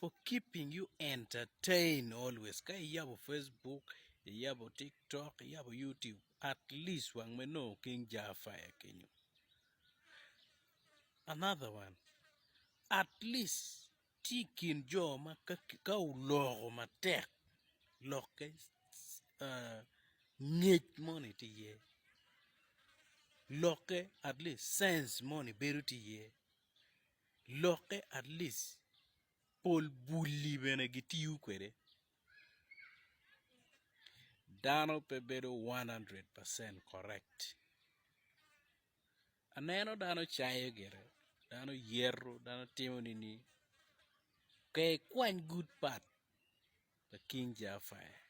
for keeping you entertain always ka iyabo Facebook iyabo tiktok iyabo YouTube at least wang me nongo king jar fire kenyo another one at least tye i kin jo ma ka oloko matek lokke ngec moni tye iye lokke at least sense moni bedo tye iye. Lokke at least pol bulli bene gitiyo kwede. Dano pe bedo one hundred percent correct. Aneno dano cayo gire, dano yeto, dano timo nini. Ker ikwany good part pa King Jah Fire.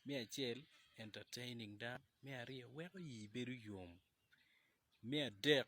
Me acel entertaining dano, me aryo weko ii bedo yom, me adek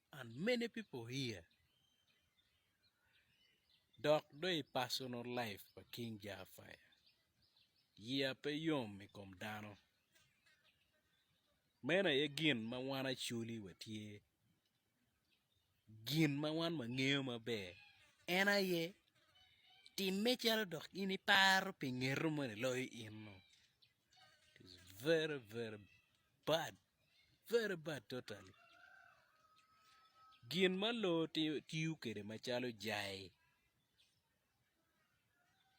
And many people here dok dong i personal life pa King Jah Fire, yeya pe yom i kom dano. Meno aye gin ma wan Acholi watye. Gin ma wan wangeyo maber en aye timme calo dok in iparo pi ngeto moni loyo in-nu. It is very very bad. very bad totally gin ma loo tiyo kwede macalo jai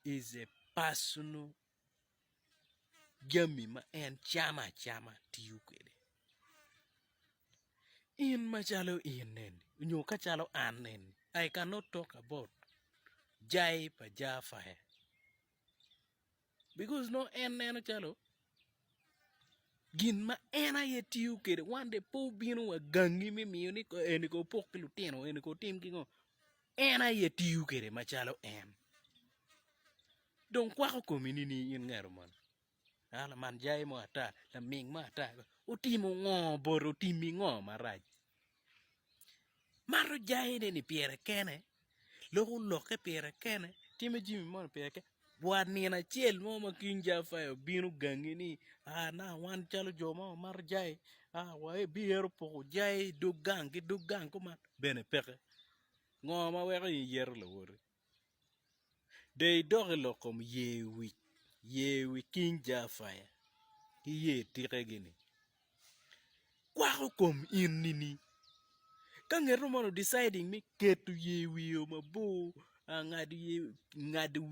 is a personal jami ma en camo acama tiyo kwede in macalo in eni nyo kacalo an eni I can not talk about jai pa Jafaya. Because nongo en neno calo gin ma en aye tiyo kwede one day pe obino wa gangi me miyo ni eni kong opok ki lutino eni kong otim ki ngo en aye tiyo kwede macalo en dong kwako komi ni in ngat man a laman jai mo ata laming mo ata otimo ngo bote otimi ngo marac Mato jangine ni pire kene, loko lokke pire kene, timo jami moni pire kene. Wa nino acel mo ma King Jaffa obino gangi ni aa nanga wan calo jo ma wamato jai aa wabiyero poko jai dog gang ki dog gang kuman bene peke. Ngo ma weko in iyeto lawoti? De idok i lok kom yer wic, yer wi King Jafaya ki yer tikegi-ni. Kwako kom in nini? Ka ngeto mono deciding me keto yer wiye mabor, ngado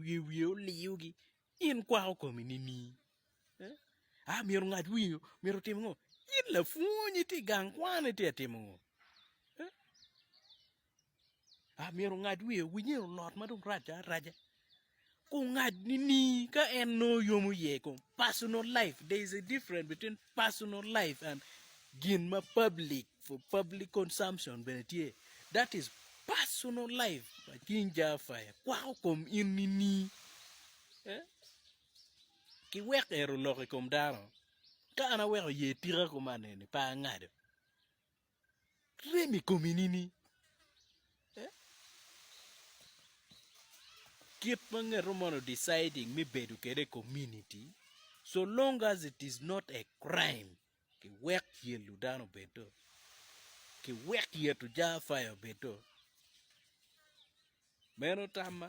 yer wiye oliyogi, in kwako komi nini? A myero ongad wiye-nyu, myero otim ngo? In lapwony itye i gang kwan itye ka timo ngo? myero ongad wiye owiny eni olot ma dong rac araca ku ongad nini ka en nongo oyomo iye kong personal life there is a different between personal life and gin ma public for public consumption bene tye that is personal life pa cing Jehovah ikwako kom in nini ki wek ero olok i kom dano ka an aweko ye tika kuman eni pe angado. rem i komi nini? Kit ma ngeto mono deciding me bedo kede community so long as it is not a crime ki wek yelo dano obed do ki wek yeto jar fire obed do meno tamma.